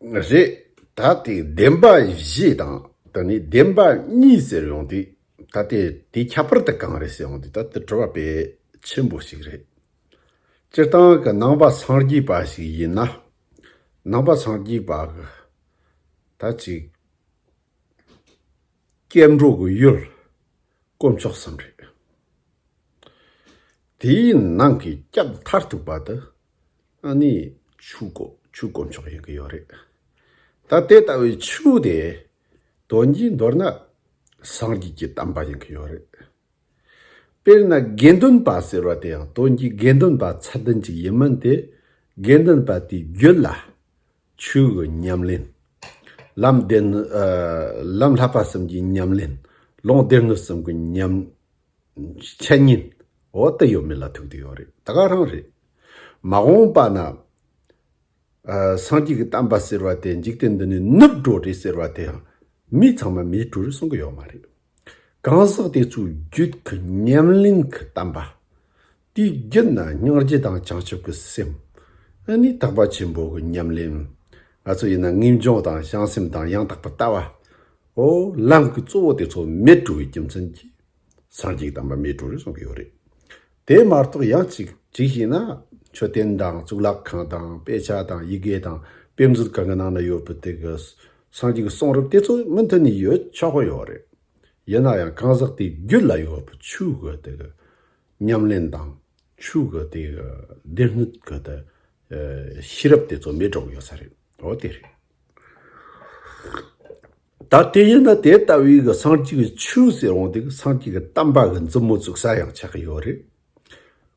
རེད་ད་དེ་བདེན་པ་བཞི་དང་ད་ནི་བདེན་པ་གཉིས་ཟེར་ཡོང་དུས་ད་དེ་དེ་ཁྱད་པར་དུ་གང་རེད་ཟེར་ཡོང་དུས་ད་དེ་དྲི་བ་བེད་ཆེན་པོ་ཞིག་རེད། སྤྱིར་བཏང་གི་ནང་པ་ཚང་རྒྱུས་པ་ཞིག་ཡིན་ན་ནང་པ་ཚང་རྒྱུས་པ་གི་ད་ཅིག་སྐྱེ་འགྲོ་གི་ཡུལ་དཀོན་མཆོག་བསམ་རེད། དེའི་ནང་གི་སྐྱབས་མཐར་ཐུག་པ་དེ་ཨ་ནི་ཆུ་ཁོ་ཆུ་དཀོན་མཆོག་ཡིན་གི་ཡོད་རེད། ད་དེ་ལྟ་བུའི་ཆུ་དེ་དོན་གྱིས་མདོར་ན་སངས་རྒྱས་ཀྱི་གཏམ་པ་ཡིན་གི་ཡོད་རེད། དཔེར་ན་དགེ་འདུན་པ་ཟེར་བ་དེ་ཡང་དོན་གྱིས་དགེ་འདུན་པ་ཚད་ལྡན་ཅིག་ཡིན་མིན་དེ་དགེ་འདུན་པ་དེའི་རྒྱུད་ལ་ཆོས་ཀྱི་ཉམས་ལེན། ལམ་བདེན་ནི། ལམ་ལྷག་པ་གསུམ་གྱི་ཉམས་ལེན། ལུང་བདེན་ནི་གསུམ་གྱི་ཉམས། འཆད་ཉན། འོ་དེ་ཡོད་མེད་ལ་ཐུག་དེ་ཡོད་རེད་ད་ག་རང་རེད། མ་འོངས་པ་ན། སངས་རྒྱས་ཀྱི་གཏམ་པ་ཟེར་བ་དེ་འཇིག་རྟེན་འདི་ནས་ནུབ་འགྲོ་རེད་ཟེར་བ་དེ་ཡང། མི་ཚང་མ་མེད་དྲུག་རེད་གསུང་གི་ཡོད་མ་རེད། གང་ཟག་དེ་ཚོའི་རྒྱུད་ཀྱི་ཉམས་ལེན་གྱི་གཏམ་པ། དེའི་རྒྱུ་ན་སྙིང་རྗེ་དང་བྱང་ཆུབ་ཀྱི་སེམས། ཨ་ནི་དག་པ་ཆེན་པོ་གི་ཉམས་ལེན། ང་ཚོ་ཡིན་ན་ངེས་འབྱུང་དང་བྱང་སེམས་དང་ཡང་དག་པར་ལྟ་བ། ཨོ། ལམ་གྱི་གཙོ་བོ་དེ་ཚོ་མེད་དྲུག་གི་རྒྱུ་མཚན་གྱིས། སངས་རྒྱས་དམ་པ་མེད་དྲུག་རེད་གསུང་གི་ཡོད་རེད། དེ་མ་གཏོགས་ཡང་གཅིག་གཅིག་བྱས་ན། མཆོད་རྟེན་དང་གཙུག་ལག་ཁང་དང་དཔེ་ཆ་དང་ཡི་གེ་དང་དཔེ་མཛོད་གང་གི་ནང་ན་ཡོད་པའི་དེ་གི། སངས་རྒྱས་ཀྱི་གསུང་རབ་དེ་ཚོ་མུ་མཐུད་ནས་ཡོད་ཆོག་གི་ཡོད་རེད། ཡིན་ན་ཡང་གང་ཟག་དེའི་རྒྱུད་ལ་ཡོད་པའི་ཆོས་གོས་དེ་གི། ཉམས་ལེན་དང། ཆུ་གི་དེ་གི་བདེ་སྣོད་གི་དེ་ཤེས་རབ་དེ་ཚོ་མེད་དྲགས་ཡོད་ས་རེད། འོ་དེ་རེད། ད་དེ་ཡིན་ན་དེ་ལྟ་བུའི་གི་སངས་རྒྱས་ཀྱི་ཆོས་ཟེར་འོང་དེ་གི་སངས་རྒྱས་ཀྱི་གཏམ་པ་གི་མཛུབ་མོ་བཙུགས་ས་ཡང་ཆགས་ཀྱི་ཡོད་རེད།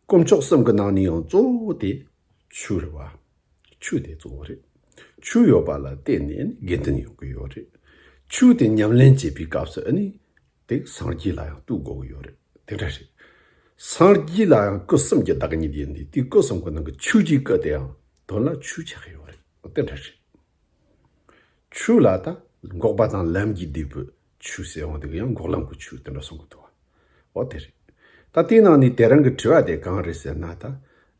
དཀོན་མཆོག་གསུམ་གི་ནང་ནས་ཡང་གཙོ་བོ་དེ་ཆོས་རེད་བ། ཆོས་དེ་གཙོ་བོ་རེད། ཆོས་ཡོད་པ་ལ་བརྟེན་ནས་དགེ་འདུན་ཡོང་གི་ཡོད་རེད། ཆོས་དེ་ཉམས་ལེན་བྱེད་པའི་སྐབས་སུ་ཨ་ནི། དེ་སངས་རྒྱས་ལ་ཡང་ལྟོས་དགོས་ཀྱི་ཡོད་རེད་དེ་འདྲ་རེད། སངས་རྒྱས་ལ་ཡང་སྐུ་གསུམ་གྱི་བདག་ཉིད་ཡིན་དུས་དེའི་སྐུ་གསུམ་གྱི་ནང་གི་ཆོས་ཀྱི་སྐུ་དེ་ཡང་དོན་ལ་ཆོས་ཆགས་ཀྱི་ཡོད་རེད་དེ་འདྲ་རེད། ཆོས་ལ་ད་འགོག་པ་དང་ལམ་གྱི་འདས་པོའི་ཆོས་ཟེར་བ་འདི་ག་ཡང་འགོག་ལམ་གྱི་ཆོས་དེ་འདྲ་གསུང་གི་འདུག་བ་འོ་དེ་རེད། ད་དེའི་ནང་ནས་དེ་རང་གི་དྲི་བ་དེ་གང་རེད་ཟེར་ན་ད་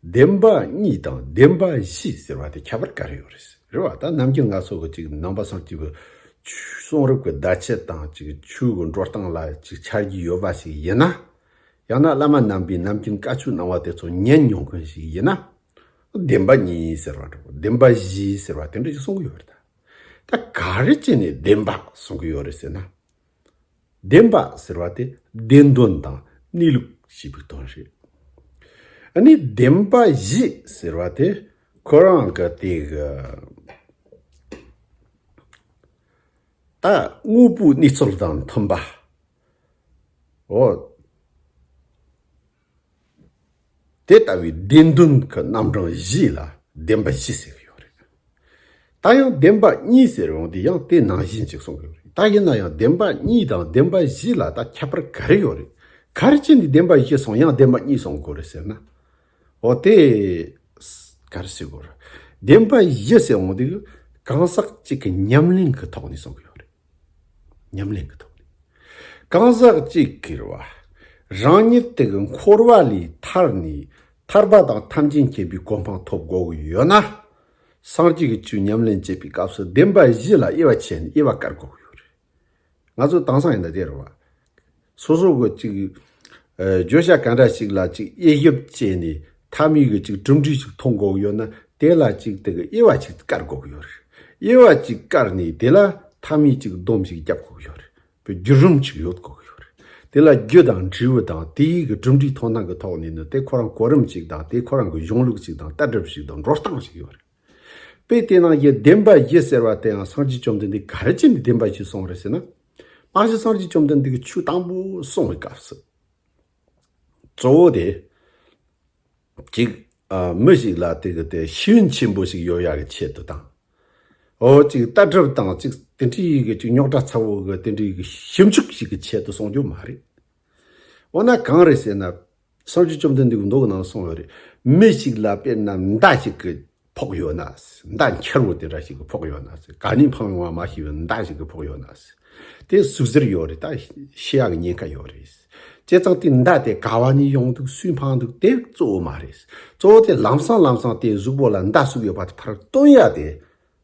བདེན་པ་གཉིས་དང་བདེན་པ་བཞི་ཟེར་བ་དེ་ཁྱད་པར་ག་རེ་ཡོད་རེད་ཟེར་རེད་བ་ད་ནམ་རྒྱུན་ང་ཚོ་གི་ཅིག་ནང་པ་སངས་ཀྱི་གསུང་རབ་ཀྱི་བརྡ་ཆད་དང་ཅིག་ཆོས་ཀྱི་འགྲོ་སྟངས་ལ་ཅིག་འཆར་གྱི་ཡོད་པ་ཞིག་ཡིན་ན། ཡང་ན་བླ་མ་རྣམ་པའི་ནམ་རྒྱུན་བཀའ་ཆོས་གནང་བ་དེ་ཚོ་ཉན་མྱོང་མཁན་ཞིག་ཡིན་ན། བདེན་པ་གཉིས་ཟེར་བ་འདྲ་བོ་བདེན་པ་བཞི་ཟེར་བ་དེ་འདྲ་ཅིག་གསུང་གི་ཡོད་རེད་ད། ད་ག་རེ་བྱས་ནས་བདེན་པ་གསུང་གི་ཡོད་རེད་ཟེར་ན། བདེན་པ་ཟེར་བ་དེ་བདེན་དོན་དང་གནས་ལུགས་ཞེས་པའི་དོན་རེད། ནི་བདེན་པ་བཞི་ཟེར་བ་དེ་ཁོ་རང་གི་དེ་གི་ད་དངོས་པོའི་གནས་ཚུལ་དང་མཐུན་པའོ། དེ་ལྟ་བུའི་བདེན་དོན་གྱི་རྣམ་གྲངས་བཞི་ལ་བདེན་པ་བཞི་ཟེར་གྱི་ཡོད་རེད། ད་ཡང་བདེན་པ་གཉིས་ཟེར་རུང་དེ་ཡང་དེ་ནང་བཞིན་ཅིག་གསུང་གི་ཡོད་རེད། ད་ཡིན་ན་ཡང་བདེན་པ་གཉིས་དང་བདེན་པ་བཞི་ལ་ད་ཁྱད་པར་ག་རེ་ཡོད་རེད། ག་རེ་བྱས་ནས་བདེན་པ་བཞི་གསུང་ཡང་བདེན་པ་གཉིས་གསུང་དགོས་རེད་ཟེར་ན། འོ་དེ། ག་རེ་བྱེད་དགོས་རེད། བདེན་པ་བཞི་ཟེར་འོང་དུས་གང་ཟག་གཅིག་གི་ཉམས་ལེན་གྱི་ཐོག་ནས་གསུང་གི་ཡོད་རེད། ཉམས་ལེན་གྱི་ཐོག་ནས་གང་ཟག་གཅིག་གིར་བ་རང་ཉིད་དེ་གི་འཁོར་བ་ལས་ཐར་ནས་ཐར་པ་དང་ཐམས་ཅད་མཁྱེན་པའི་གོ་འཕང་ཐོབ་དགོས་ཀྱི་ཡོད་ན། སངས་རྒྱས་ཀྱི་ཆོས་ཉམས་ལེན་བྱེད་པའི་སྐབས་སུ་བདེན་པ་བཞི་ལ་དབྱེ་བ་ཕྱེ་ནས་དབྱེ་བ་བཀར་དགོས་ཀྱི་ཡོད་རེད། ང་ཚོ་དེང་སང་ཡིན་ན་དེར་བ། སོ་སོ་གི་གཅིག་བརྗོད་བྱ་གང་འདྲ་ཞིག་ལ་གཅིག་དབྱེ་ཞིབ་བྱས་ནས་མཐའ་མའི་གི་གཅིག་གྲུབ་འབྲས་ཤིག་མཐོང་དགོས་ཡོད་ན་དེ་ལ་གཅིག་དེ་གི་དབྱེ་བ་ཞིག་བཀར་དགོས་ཡོད་རེད། དབྱེ་བ་གཅིག་བཀར་ནས་དེ་ལ་མཐའ་མའི་གཅིག་བསྡོམས་ཤིག་བརྒྱབ་དགོས་ཡོད་རེད་པའི་བརྒྱུད་རིམ་ཞིག་ཡོད་དགོས་ཡོད་རེད། དེ་ལ་རྒྱུད་དང་འབྲས་བུ་དང་དེའི་གི་གྲུབ་འབྲས་མཐོང་སྟངས་ཀི་ཐོག་ནས་ནི་དེ་ཁོ་རང་གོ་རིམ་ཞིག་དང་དེ་ཁོ་རང་གི་གཞུང་ལུགས་ཞིག་དང་ལྟ་གྲུབ་ཞིག་དང་འགྲོ་སྟངས་ཞིག་ཡོད་རེད། དཔེ་དེ་ནང་བཞིན་བདེན་པ་བཞི་ཟེར་བ་དེའང་སངས་རྒྱས་བཅོམ་ལྡན་འདས་ག་རེ་བྱས་ནས་བདེན་པ་བཞི་གསུངས་རེད་ཟེར་ན། སྔ་ཕྱི་སངས་རྒྱས་བཅོམ་ལྡན་འདས་ཀྱི་ཆོས་དང་པོ་གསུངས་བའི་སྐབས་སུ། གཙོ་བོ་དེ། གཅིག། མི་ཞིག་ལ་དེ་གི་དེ་ཤེས་ཡོན་ཆེན་པོ་ཞིག་ཡོད་ཡ་གི་ཆེད་དུ་དང། འོ་གཅིག་ལྟ་གྲུབ་དང་གཅིག་དེ་འདྲའི་ཡི་གི་གཅིག་རྙོག་དྲ་ཚ་བོ་གི་དེ་འདྲའི་ཡི་གི་ཞིབ་འཇུག་ཞིག་གི་ཆེད་དུ་གསུངས་རྒྱུ་མ་རེད། འོ་ན་གང་རེད་ཟེར་ན། སང་ཆོས་བཅོམ་ལྡན་འདས་ཀྱི་མདོག་གི་ནང་ལ་སོང་བས་རེད། མི་ཞིག་ལ་དཔེར་ན་མདའ་ཞིག་གི་ཕོག་ཡོད་ན། མདའ་འཁྱར་བོ་དེ་འདྲ་ཞིག་གི་ཕོག་ཡོད་ན། ག་ནས་འཕངས་ཡོང་བ་མ་ཤེས་པའི་མདའ་ཞིག་གི་ཕོག་ཡོད་ན། དེ་ཟུག་གཟེར་ཡོད་རེད་ད། ཤི་ཡག་གི་ཉེན་ཁ་ཡོད་རེད། བྱས་ཙང་དེ་མདའ་དེ་ག་བ་ནས་ཡོང་འདུག་སུས་འཕངས་འདུག་དེ་གཙོ་བོ་མ་རེད། གཙོ་བོ་དེ་ལམ་སང་ལམ་སང་དེ་གཟུགས་པོ་ལ་མདའ་ཟུག་ཡོད་པ་དེ་ཕར་བཏོན་ཡག་དེ།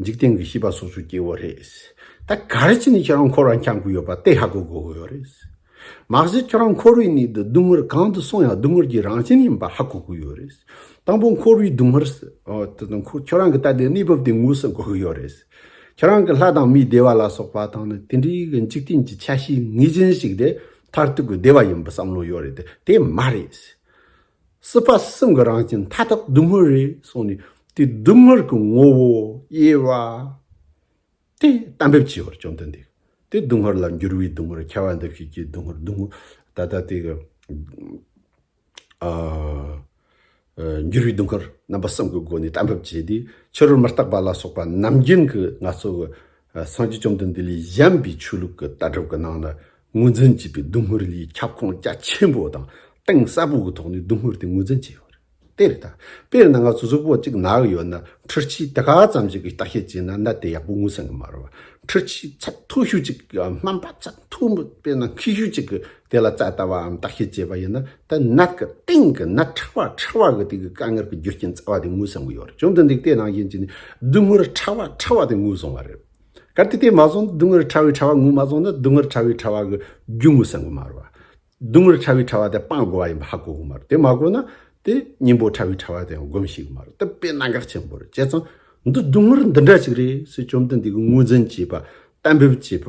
འཇིག་རྟེན་གྱི་བྱིས་པ་སོ་སོས་སྐྱེ་བོ་རེད། ད་ག་རེ་བྱས་ནས་ཁྱོད་རང་འཁོར་བར་འཁྱམས་དགོས་ཡོད་པ་དེ་ཧ་གོ་དགོས་ཀྱི་ཡོད་རེད། མ་གཞི་ཁྱོད་རང་འཁོར་བའི་ནང་དུ་སྡུག་བསྔལ་གང་དུ་སོང་ཡང་སྡུག་བསྔལ་གྱི་རང་བཞིན་ཡིན་པ་ཧ་གོ་དགོས་ཡོད་རེད། དང་པོ་འཁོར་བའི་སྡུག་བསྔལ་དང། ཁྱོད་རང་གི་ལྟ་བའི་གནས་བབ་དེ་ངོས་ཟིན་དགོས་ཀྱི་ཡོད་རེད། ཁྱོད་རང་གི་ལྷ་དང་མིའི་བདེ་བ་ལ་སོགས་པ་དང་ནི་དེ་འདྲའི་གི་འཇིག་རྟེན་གྱི་ཆ་ཤས་ངེས་ཅན་ཞིག་དེ་མཐར་ཐུག་གི་བདེ་བ་ཡིན་པར་བསམ་བློ་ཡོད་རེད་དེ་མ་རེད། སྲིད་པ་གསུམ་གྱི་རང་བཞིན་མཐའ་དག་སྡུག་བསྔལ་རེད་གསུངས་ནས་དེ་སྡུག་བསྔལ་གྱི་ངོ་བོ་དབྱེ་བ། དེ་གཏན་འབེབས་བྱས་པར་བཅོམ་ལྡན་འདས་དེ་སྡུག་བསྔལ་ལ་འགྱུར་བའི་སྡུག་བསྔལ་ཁྱད་པར་འདུ་ཤེས་ཀྱི་སྡུག་བསྔལ་སྡུག་བསྔལ་ད་ལྟ་དེ་གི་འགྱུར་བའི་སྡུག་བསྔལ་རྣམ་པ་གསུམ་གྱི་སྒོ་ནས་གཏན་འབེབས་བྱས་ཏེ་ཕྱི་རོལ་མི་རྟག་པ་ལ་སོགས་པ་རྣམ་རྒྱལ་གྱི་ངལ་རྩོལ་གྱི་སངས་རྒྱས་བཅོམ་ལྡན་འདས་ལས་གཞན་པའི་ཆོས་ལུགས་ཀྱི་ལྟ་གྲུབ་ཀྱི་ནང་ལ་ངོས་འཛིན་བྱས་པའི་སྡུག་བསྔལ་ལས་ཁྱབ་ཁོངས་རྒྱ་ཆེན་པོ་དང་གཏིང་ཟབ་པོ་གི་ཐོག་ནས་སྡུག་བསྔལ་དེ་ངོས་འཛིན་བྱས་ཡོད་རེད། དེ་རེད་ད། དཔེར་ན་ང་ཚོ་གཟུགས་པོ་གཅིག་ནག་ཡོད་ན་འཁྲུལ་ཆས་དེ་ག་ཙམ་ཞིག་གིས་བརྟག་དཔྱད་བྱས་ན་ནད་དེ་ཡག་པོ་ངོས་ཟིན་གྱི་མ་རེད། འཁྲུལ་ཆས་ཚད་མཐོ་ཤོས་གཅིག་གིས་སྨན་པ་ཚད་མཐོ་པོས་ན་མཁྲིས་ཤོས་གཅིག་གིས་དེ་ལ་རྩ་ལྟ་བའམ་བརྟག་ཤེས་བྱེད་པ་ཡིན་ན་ད་ནད་ཀྱི་སྟེང་གི་ནད་ཕྲ་བ་ཕྲ་བ་གི་སྟེང་གི་དཀའ་ངལ་གྱི་རྒྱུ་རྐྱེན་རྩ་བ་དེ་ངོས་བཟུང་གི་ཡོད་རེད་བྱུང་དུ་འདུག་དེ་ནང་བཞིན་གྱི་ནི་སྡུག་བསྔལ་ཕྲ་བ་ཕྲ་བ་དེ་ངོས་བཟུང་བ་རེད། གལ་ཏེ་དེ་མ་བཟུང་སྡུག་བསྔལ་ཕྲ་བའི་ཕྲ་བ་ངོས་མ་བཟུང་ན་སྡུག་བསྔལ་ཕྲ་བའི་ཕྲ་བ་གི་རྒྱུ་ངོས་བཟུང་གི་མ་རེད། སྡུག་བསྔལ་ཕྲ་བའི་ཕྲ་བ་དེ་སྤང་དགོས་པ་ཡིན་པ་ཧ་གོ་གི་མ་རེད་དེ་མ་གོ་ན་དེ་སྙིང་པོ་ཕྲ་བའི་ཕྲ་བ་དེ་ཡང་སྒོམ་ཤེས་གི་མ་རེད་དེ་དཔེ་གནད་འགག་ཆེན་པོ་རེད་བྱས་ཙང་འདི་སྡུག་བསྔལ་འདི་འདྲ་ཞིག་རེད་ཟེར་བཅོམ་ལྡན་འདས་ཀྱི་ངོས་འཛིན་བྱེད་པ་གཏན་འབེབས་བྱེད་པ་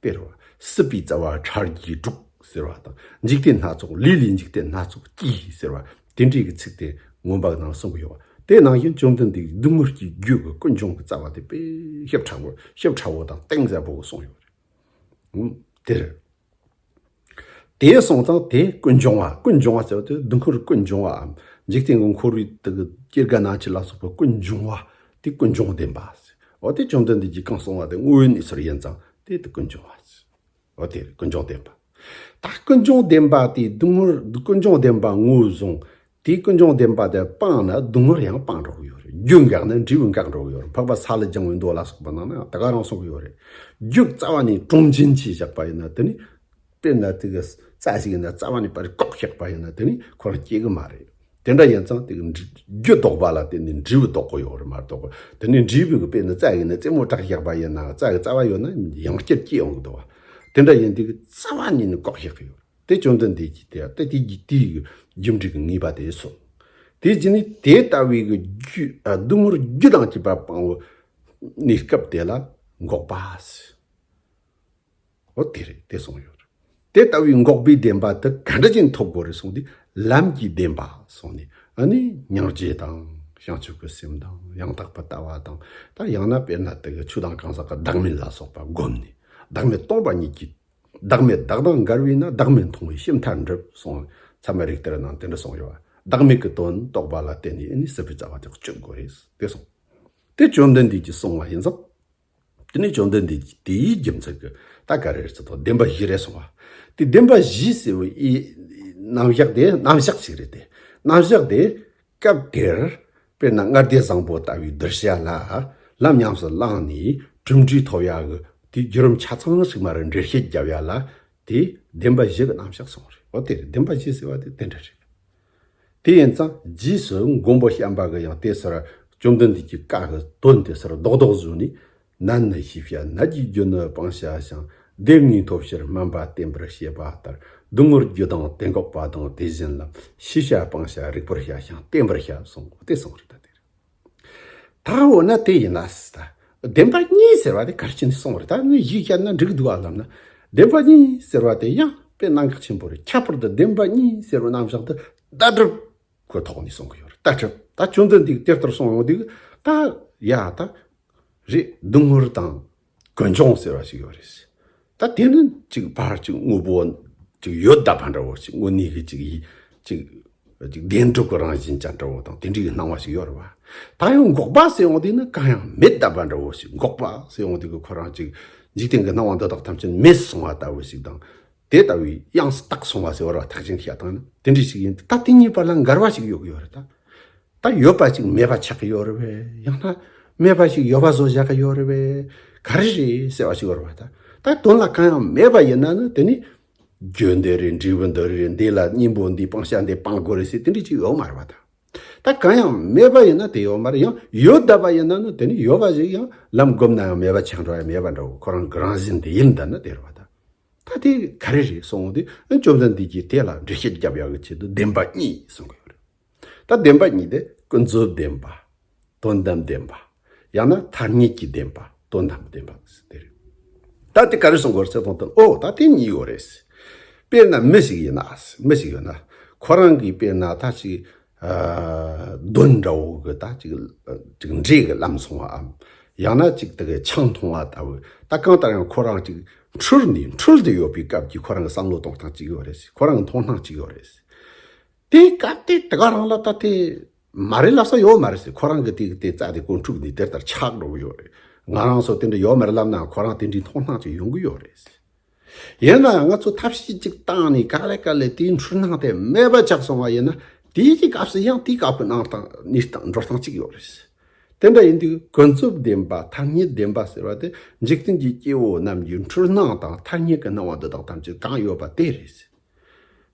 དཔེར་བར་སྲིད་པའི་རྩ་བ་ཁྲར་རྒྱས་དྲུག་ཟེར་བ་དང་འཇིག་རྟེན་སྣ་ཚོགས་ལུས་ལས་འཇིག་རྟེན་སྣ་ཚོགས་སྐྱེས་ཟེར་བ་དེ་འདྲའི་གི་ཚིག་དེ་མངོན་པ་ནང་གསུངས་གི་ཡོད་པ་དེ་ནང་བཞིན་བཅོམ་ལྡན་འདས་སྡུག་བསྔལ་གྱི་རྒྱུད་ཀྱི་ཀུན་འབྱུང་གི་རྩ་བ་དེ་དཔེ་ཞབས་ཕྲ་བོ་ཞབས་ཕྲ་བོ་དང་སྟེང་གཟར་བོ་གསུངས་ཡོད་པ་རེད། དེར། དེའི་གསང་རྟགས་དེ་ཀུན་འབྱུང་བ་ཀུན་འབྱུང་བ་ཟེར་བ་དེ་བདུད་འཁོར་ཀུན་འབྱུང་བ་འམ་འཇིག་རྟེན་གྱི་འཁོར་བའི་དུ་སྐྱེ་རྒ་ན་འཆི་ལ་སོགས་པའི་ཀུན་འབྱུང་བ་དེ་ཀུན་འབྱུང་བདེན་པ། འོ་དེ་བཅོམ་ལྡན་འདས་ཀྱིས་གང་གསུངས་བ་དེ་དངོས་ཡོད་གནས་ཚུལ་ཡིན་ཙང་དེ་དེ་ཀུན་འབྱུང་བ། འོ་དེ་ཀུན་འབྱུང་བདེན་པ། ད་ཀུན་འབྱུང་བདེན་པ་དེ་བདུད་འཁོར་བདུད་ཀུན་འབྱུང་བདེན་པ་ངོས་བཟུང་དེས་ཀུན་འབྱུང་བདེན་པ་དེ་སྤངས་ན་སྡུག་བསྔལ་ཡང་སྤངས་འགྲོ་གི་ཡོད་རེད་རྒྱུ་འགགས་ན་འབྲས་བུ་འགག་འགྲོ་གི་ཡོད་རེད་འཕགས་པ་ས་ལ་བརྒྱང་བའི་མདོ་ལ་སོགས་པ་ནང་ན་དེ་ག་རང་གསུངས་གི་ཡོད་རེད་རྒྱུ་རྩ་བ་ནས་དྲུང་ཆེན་གྱིས་བཞག་པ་ཡིན་ན་དེ་ནི་དཔེར་ན་དེ་ག་རྩ་ཞིག་ཡིན་ན་རྩ་བ་ནས་པར་རིས་ཀོག་བཞག་པ་ཡིན་ན་དེ་ནི་ཁོ་རང་སྐྱེ་གི་མ་རེད་དེ་འདྲ་ཡིན་ཙང་དེ་ག་རྒྱུ་ལྡོག་པ་ལ་བརྟེན་ནས་འབྲས་བུ་ལྡོག་གི་ཡོད་རེད་མ་གཏོགས་པར་དེ་ནི་འབྲས་བུ་གི་དཔེར་ན་རྩ་ཡིན་ན་རྩེ་མོ་བྲག་བཞག་པ་ཡིན་ནའང་རྩ་གི་རྩ་བ་ཡོད་ན་ཡང་བསྐྱར་སྐྱེ་ཡོང་གི་འདུག་བ་དེ་འདྲ་ཡིན་དེ་ག་རྩ་བ་ནས་ནི་ཀོག་བཞག་གི་ཡོད་རེད། དེ་བཅོམ་ལྡན་འདས་ཀྱིས་དེ་ལྟ་སྟེ་དེའི་རྒྱུ་འབྲས་ཀྱི་ངེས་པ་དེས་སོ། དེའི་རྒྱུ་ནི་དེ་ལྟ་བུའི་སྡུག་བསྔལ་རྒྱུ་དང་བཅས་པ་སྤང་བའི་གནས་སྐབས་དེ་ལ་འགོག་པ། འོ་དེ་རེད་དེ་གསུངས་ཡོད། དེ་ལྟ་བུའི་འགོག་པའི་བདེན་པ་དེ་ག་འདྲ་ཅན་ཐོབ་དགོས་རེད་གསུངས་ཏེ་ལམ་གྱི་བདེན་པ་གསུངས་ནས་ཨ་ནི་མྱང་བྱེད་དང་བྱང་ཆུབ་ཀྱི་སེམས་དང་ཡང་དག་པར་ལྟ་བ་དང་དང་ཡང་ན་དཔེར་ན་དེ་ག་ཆུ་དང་གང་ཟག་གི་བདག་མེད་ལ་སོགས་པ་བསྒོམས་ནས་བདག་མེད་སྟོང་པ་ཉིད་ཀྱི་བདག་མེད་བདག་དང་འགལ་བས་ན་བདག་མེད་མཐོང་བའི་ཤེས་མཐར་འགྲུབ་གསུངས། ཚད་མ་རིགས་གཏེར་ནང་དེ་འདྲ་གསུངས་ཡོད། བདག་མེད་ཀྱི་དོན་རྟོགས་པ་ལ་བརྟེན་ནས་ནི་སྲིད་པའི་རྩ་བ་དེ་གཅོད་དགོས་རེད་དེ་གསུངས། དེ་བཅོམ་ལྡན་འདས་ཀྱིས་གསུངས་བ་ཡིན་ཙང། དེ་ནས་བཅོམ་ལྡན་འདས་ཀྱིས་དེ་ཡི་རྒྱུ་མཚན་གྱི་ད་ག་རེར་ཚིག་དོག་བདེན་པ་བཞི་རེ་གསུངས་བ། དེ་བདེན་པ་བཞི་ཟེར་བའི་དབྱེ། རྣམ་གཞག་དེ་རྣམ་གཞག་ཞིག་རེད་དེ། རྣམ་གཞག་དེ་སྐབས་དེར་དཔེར་ན་མངལ་སྡེ་བཟང་པོ་ལྟ་བུའི་བསྡུར་བྱ་ལ་ལམ་ཉམས་སུ་བླངས་ནས་གྲུབ་འབྲས་ཐོབ་ཡག་གི་དེའི་བརྒྱུད་རིམ་ཆ་ཚང་ཞིག་མ་རེད་འགྲེལ་བཤད་བརྒྱབ་ཡག་ལ་དེས་བདེན་པ་བཞི་གི་རྣམ་གཞག་གསུངས་རེད་འོ་དེ་རེད་བདེན་པ་བཞི་ཟེར་བ་དེ་དེ་འདྲ་རེད། དེ་ཡིན་ཙང་རྗེས་སུ་མགོན་པོ་བྱམས་པ་གི་ཡང་དེ་སོར་བཅོམ་ལྡན་འདས་ཀྱི་བཀའ་གི་དོན་དེ་སོར་རྡོག་རྡོག་བཟོས་ནས་ནད་ནི་ཤེས་བྱ་ནད་ཀྱི་རྒྱུ་ནི་སྤང་བྱ་ཞིང་བདེན་གཉིས་ཐོབ་ཕྱིར་སྨན་པ་བསྟེན་པར་བྱེད་པ་ལྟར་སྡུག་བསྔལ་རྒྱུ་དང་གཏན་འགོག་པ་དང་དེ་བཞིན་ལ་ཤེས་བྱ་སྤང་བྱ་རིག་པར་བྱ་ཞིང་བསྟེན་པར་བྱ་གསུངས་པ་དེ་གསུངས་རིགས་དང་དེར་ཐལ། འོ་ན་དེ་ཡིན་ན་བདེན་པ་གཉིས་ཟེར་བ་དེ་གལ་ཆེན་གསུངས་པ་རེད་ད་ནི་གཞི་བྱས་ན་འགྲིག་འདུག་བསམ་ན་བདེན་པ་གཉིས་ཟེར་བ་དེ་ཡང་དཔེ་གནང་གལ་ཆེན་པོ་རེད་ཁྱད་པར་དུ་བདེན་པ་གཉིས་ཟེར་བའི་རྣམ་གཞག་འདི་ལྟ་གྲུབ་ཀྱི་ཐོག་ནས་གསུངས་ཀྱི་ཡོད་རེད་ལྟ་གྲུབ་ད་ཆུང་དུ་འདུག་དེ་ལྟར་གསུངས་ཡོང་དུས་ད་ཡ་ད། རེད་སྡུག་ཧུར་དང་དཀོན་མཆོང་ཟེར་བ་ཞིག་ཡོད་རེད། ད་དེ་ནི་ཅིག་ཕར་ཅིག་དངོས་པོ་ཅིག་ཡོད་ད་བར་འདྲ་བོ་ཅིག་དངོས་གནས་ཀྱི་ཅིག་ཅིག་བདེན་གྲུབ་ཀྱི་རང་བཞིན་ཅན་འདྲ་བོ་དང་དེ་འདྲའི་ཡི་སྣང་བ་ཞིག་ཡོད་རེད་བ། ད་ཡང་འགོག་པ་ཟེར་ཡོང་དུས་ནི་གང་ཡང་མེད་ད་བར་འདྲ་བོ་ཞིག་འགོག་པ་ཟེར་ཡོང་དུས་ཀྱི་ཁོ་རང་ཅིག་འཇིག་རྟེན་གྱི་སྣང་བ་འདི་དག་ཐམས་ཅད་མེད་སོང་བ་ལྟ་བུ་ཞིག་དང། དེ་ལྟ་བུའི་དབྱངས་སུ་བཏགས་སོང་བ་ཟེར་བར་བ་ཐག་ཅན་གྱིས་ཡག་སྟངས་ནི་དེ་འདྲས་ཞིག་ཡིན་ཏེ་ད་དེ་གཉིས་བར་ལ་འགལ་བ་ཞིག་ཡོད་ཀྱི་ཡོད་རེད་ད། ད་ཡོད་པ་ཅིག་མེད་པ་ཆགས་ཀྱི་ཡོད་རེད་བས་ཡང་ན་མེད་པ་ཞིག་ཡོད་པ་བཟོ་བཞག་གི་ཡོད་རེད་བས་ག་རེ་རེད་ཟེར་བ་ཞིག་ཡོད་རེད་བ་ད། ད་དོན་ལ་གང་ཡང་མེད་པ་ཡིན་ན་ནི་དེ་ནི། རྒྱུ་འདི་རེད་འབྲས་བུ་འདི་རེད་འདི་ལ་སྙིང་པོ་འདི་སྤང་བྱ་འདི་སྤང་དགོས་རེད་ཟེར་དེ་འདྲས་ཅིག་ཡོད་མ་རེད་བ་ད། ད་གང་ཡང་མེད་པ་ཡིན་ན་དེ་ཡོད་མ་རེད་ཡང་ཡོད་གདའ་བ་ཡིན་ན་ནི་དེ་ནི་ཡོད་པ་ཞིག་ཡང་ལམ་བསྒོམས་ན་ཡང་མེད་པ་ཆགས་འགྲོ་བས་མེད་པ་འདྲ་བོ་ཁོ་རང་གི་རང་བཞིན་དེ་ཡིན་གདའ་ན་དེ་རེད་བ་ད། ད་དེ་ག་རེ་རེད་སོང་དེ་ཨ་ཅོ་མཚན་འདི་ཀྱིས་དེ་ལ་འགྲེལ་བཤད་རྒྱབ་ཡག་གི་ཆེད་དུ་བདེན་པ་གཉིས་གསུང་གི་ཡོད་རེད། ད་བདེན་པ་གཉིས་དེ་ཀུན་རྫོབ་བདེན་པ། དོན་དམ་བདེན་པ། ཡང་ན་ཐ་སྙད་ཀྱི་བདེན་པ་དོན་དམ་བདེན་པ་ཟེར་དེ་རེད། ད་དེ་ག་རེ་གསུང་གི་ཡོད་ཟེར་དོན་དུ་ཨོ་ད་དེ་གཉིས་ཡོད་རེད། དཔེར་ན་མི་ཞིག་ཡིན་ན། མི་ཞིག་ཡོད་ན། ཁོ་རང་གིས་དཔེར་ན་ད་ཅིག་གདོན་འདྲ་བོ་གི་ད་ཅིག་འདྲེས་གི་ལམ་སོང་བའམ། ཡང་ན་ཅིག་དག་གི་ཆང་འཐུང་བ་ལྟ་བུ་ད་གང་ལྟར་ཡང་ཁོ་རང་ཅིག་འཁྲུལ་ནས་འཁྲུལ་དུ་ཡོད་པའི་སྐབས་ཀྱི་ཁོ་རང་གི་བསམ་བློ་གཏོང་སྟངས་ཅིག་ཡོད་རེད་ཟེར་ཁོ་རང་གི་མཐོང་སྣང་ཅིག་ཡོད་རེད་ཟེར། དེའི་སྐབས་དེ་དག་རང་ལ་ད་དེ་མ་རེད་ལབ་ས་ཡོད་མ་རེད་ཟེར་ཁོ་རང་གི་དེ་དེ་རྩ་དེ་ཀོ་འཁྲུགས་ནས་དེ་ལྟར་ཆགས་འགྲོ་གི་ཡོད་རེད། ང་རང་སོ་དེ་འདྲ་ཡོད་མ་རེད་ལབ་ནའང་ཁོ་རང་དེ་འདྲའི་མཐོང་སྣང་ཅིག་ཡོང་གི་ཡོད་རེད་ཟེར། ཡིན་ནའང་ང་ཚོས་ཐབས་ཤེས་གཅིག་བཏང་ནས་ག་ལེ་ག་ལེ་དེའི་འཕྲུལ་སྣང་དེ་མེད་པ་ཆགས་སོང་བ་ཡིན་ན་དེའི་སྐབས་སུ་ཡང་དེའི་སྐབས་ཀྱི་སྣང་སྟངས་གནས་སྟངས་འགྲོ་སྟངས་གཅིག་ཡོད་རེད། དེ་འདྲ་ཡིན་དུས་ཀུན་རྫོབ་བདེན་པ་ཐ་སྙད་བདེན་པ་ཟེར་བ་དེ་འཇིག་རྟེན་གྱི་སྐྱེ་བོ་རྣམས་ཀྱི་འཕྲུལ་སྣང་དང་ཐ་སྙད་ཀྱི་སྣང་བ་འདི་དག་ཐམས་ཅད་གང་ཡོད་པ་དེ་རེད།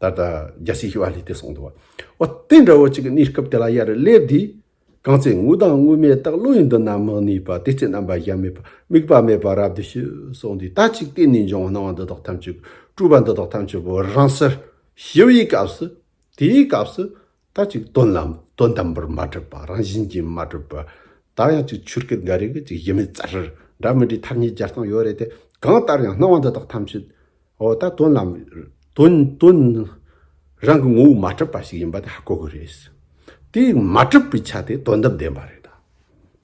ད་ལྟ་རྒྱལ་སྲིད་ཞི་བ་ལྷའི་དེ་སོང་དུ་བ་འོ་དེ་འདྲ་བོ་ཅིག་གི་གནས་སྐབས་དེ་ལ་ཡར་སླེབས་དུས་གང་ཚེ་དངོས་དང་དངོས་མེད་རྟག་བློ་ཡིན་དུ་ན་མི་གནས་པ་དེ་ཚེ་རྣམ་པ་གཞན་མེད་པ་དམིགས་པ་མེད་པར་རབ་ཏུ་ཞི་སོང་དུས་ད་ཅིག་གཏན་ནས་འབྱུང་བ་སྣང་བ་འདི་དག་ཐམས་ཅད་སྤྲོས་པ་འདི་དག་ཐམས་ཅད་བོར་རང་སར་ཞི་བའི་སྐབས་སུ་དེའི་སྐབས་སུ་ད་ཅིག་དོན་ལམ་དོན་དམ་པར་མ་གྲུབ་པ་རང་བཞིན་གྱིས་མ་གྲུབ་པར། ད་ཡང་ཅིག་ཆོས་སྐད་འགའ་རེ་གི་ཅིག་ཡིན་མིན་རྩ་ཧྲིར་འདྲ་མི་འདྲའི་མཐར་གཉིས་སྦྱར་སྟངས་ཡོད་རེད་དེ། གང་ལྟར་ཡང་སྣང་བ་འདི་དག་ཐམས་ཅད། འོ་ད་དོན་ལམ། དོན་དོན། རང་གི་ངོ་བོ་མ་གྲུབ་པ་ཞིག་ཡིན་པ་དེ་ཧ་གོ་དགོས་རེད། དེ་མ་གྲུབ་པའི་ཆ་དེ་དོན་དམ་བདེན་པ་རེད།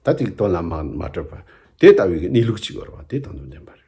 ད་ཅིག་དོན་ལམ་མ་གྲུབ་པ་དེ་ལྟ་བུའི་གནས་ལུགས་ཅིག་འོར་བ་དེ་དོན་དམ་བདེན་པ་རེད།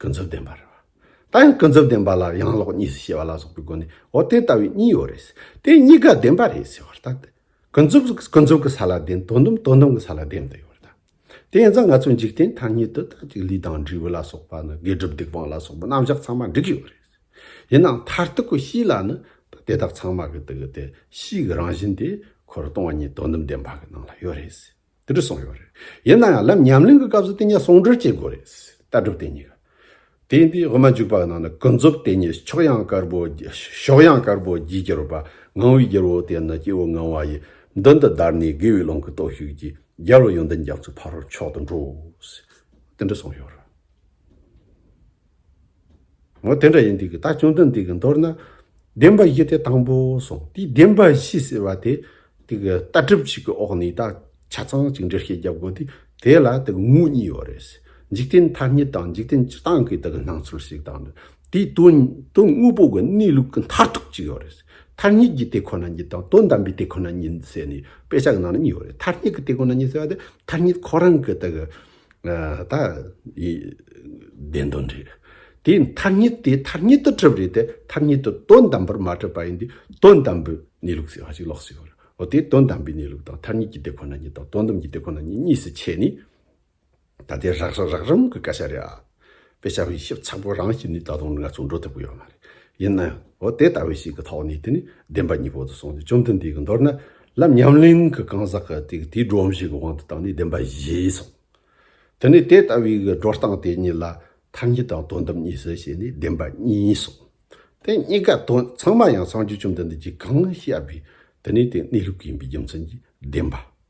ཀུན་རྫོབ་བདེན་པ་རེད། ད་ཡང་ཀུན་རྫོབ་བདེན་པ་ལ་ཡང་ལོག་གཉིས་སུ་ཕྱེ་བ་ལ་སོགས་པའི་སྒོ་ནས་འོ་དེ་ལྟ་བུའི་གཉིས་ཡོད་རེད། དེ་གཉིས་ཀ་བདེན་པ་རེད་ཟེར་བ་ལྟ་སྟེ། ཀུན་རྫོབ་ཀུན་རྫོབ་ཀྱི་ས་ལ་བདེན་དོན་དོན་དོན་གྱི་ས་ལ་བདེན་མི་འདུག་ཡོད་རེད། དེ་ཡིན་ཙང་ང་ཚོའི་འཇིག་རྟེན་མཐའ་གཉིས་དུ་དག་ཅིག་ལུས་དང་འབྲས་བུ་ལ་སོགས་པ་ནི་དགེ་སྒྲུབ་སྡིག་སྤང་ལ་སོགས་པའི་རྣམ་གཞག་ཚང་མ་འགྲིག་གི་ཡོད་རེད། ཡིན་ནའང་མཐར་ཐུག་གི་གཤིས་ལ་ནི་ད་དེ་དག་ཚང་མ་གི་དེ་གི་དེ་གཤིས་ཀྱི་རང་བཞིན་དེ་ཁོ་རང་སྟོང་ཉིད་དོན་དམ་བདེན་པ་གི་ནང་ལ་ཡོད་རེད། དེ་འདྲ་གསུངས་ཡོད་རེད། ཡིན་ན་ཡང་ལམ་ཉམས་ལེན་གྱི་སྐབས་སུ་དེ་གཉིས་ཟུང་འབྲེལ་བྱེད་དགོས་རེད། ལྟ་གྲུབ་དེ་གཉིས། དེ་ཡིན་དུས་དབུ་མ་འཇུག་པ་རྣམས་ནི་ཀུན་རྫོབ་དེ་གཉིས་ཕྱོགས་ཡངས་དཀར་པོ། ཕྱོགས་ཡངས་དཀར་པོ་བརྒྱའི་རྒྱལ་བ། ངང་བའི་རྒྱལ་བོ་དེ་ནི་སྐྱེ་བོ་ངང་བ་ཡི། མདུན་དུ་བདར་ནས་དགེ་བའི་ཀློང་གི་སྟོབས་ཤུགས་ཀྱིས། རྒྱལ་བ་ཡོན་ཏན་རྒྱ་མཚོའི་ཕ་རོལ་མཆོག་ཏུ་འགྲོ། དེ་འདྲ་གསུངས་ཡོད་རེད། ངོ་དེ་འདྲ་ཡིན་འདུག་གི་ད་སྐྱོན་དོན་འདི་གི་མདོར་ན། བདེན་པ་བཞི་དེ་དང་པོ་སོང་དེའི་བདེན་པ་བཞི་ཟེར་བ་དེ། དེ་གི་ལྟ་གྲུབ་ཅིག་གི་འོག་ནས་ད་ཆ་ཚང་གཅིག་འགྲེལ་བཤད་རྒྱབ་དགོས་དུས་དེ་ལ་དེ་གི་ངོས་གཉིས་ཡོད་རེད། འཇིག་རྟེན་ཐ་སྙད་དང་འཇིག་རྟེན་སྤྱི་སྟངས་ཀྱི་དེ་གི་སྣང་ཚུལ་ཞིག་དང། དེའི་དོན་དངོས་པོ་གི་གནས་ལུགས་ཀྱི་མཐར་ཐུག་ཅིག་ཡོད་རེད། མཐར་སྙེག་གི་དེ་ཁོ་ན་ཉིད་དང་དོན་དམ་པའི་དེ་ཁོ་ན་ཉིད་ཟེར་ནས་དཔེ་ཆ་གི་ནང་ན་གཉིས་ཡོད་རེད་མཐར་སྙེག་གི་དེ་ཁོ་ན་ཉིད་ཟེར་བ་དེ་མཐར་སྙེག་ཁོ་རང་གི་དེ་གི། ད་ཡིས་བདེན་དོན་རེད། དེའི་མཐར་ཉིད་དེ་མཐར་ཉིད་དུ་གྲུབ་རེད་དེ་མཐར་ཉིད་དུ་དོན་དམ་པར་མ་གྲུབ་པ་ཡིན་དུས་དོན་དམ་པའི་གནས་ལུགས་ཟེར་བ་ཞིག་ལོགས་སུ་ཡོད་རེད། འོ་དེ་དོན་དམ་པའི་གནས་ལུགས་དང་མཐར་ཉིད་ཀྱི་དེ་ཁོ་ན་ཉིད་དང་དོན་དམ་གྱི་དེ་ཁོ་ན་ཉིད་གཉིས་སུ་ཕྱེ་ནས། ད་དེ་རགས་རམ་གྱི་བཀའ་ཤག་རེད་ཨ། དཔེ་ཆ་དབྱེ་ཞིབ་ཚགས་པོ་རང་བྱས་ནས་ད་དུང་ང་ཚོ་འགྲོ་ཐུབ་ཀྱི་ཡོད་མ་རེད། ཡིན་ནའང། འོ་དེ་ལྟ་བུ་ཞིག་གི་ཐོག་ནས་དེ་ནི་བདེན་པ་གཉིས་པོ་དུ་སོང་སྟེ་བཅོམ་ལྡན་འདས་ཀྱི་མདོར་ན་ལམ་ཉམས་ལེན་གྱི་གང་ཟག་གི་དེ་དེའི་སྒྲོམ་གཞི་གི་དབང་དུ་བཏང་ནས་བདེན་པ་བཞེས་སོང། དེ་ནས་དེ་ལྟ་བུའི་གི་སྒྲོ་སྟངས་དེ་གཉིས་ལ་མཐའ་གཉིས་དང་དོན་དམ་གཉིས་སུ་ཕྱེ་ནས་བདེན་པ་གཉིས་སོང། དེ་གཉིས་ཀ་དོན་ཚང་མ་ཡང་སངས་རྒྱས་བཅོམ་ལྡན་འདས་ཀྱིས་གང་བཤད་པའི་དེ་ནི་དེ་གནས་ལུགས་ཡིན་པའི་རྒྱུ་མཚན་གྱིས་བདེན་པ།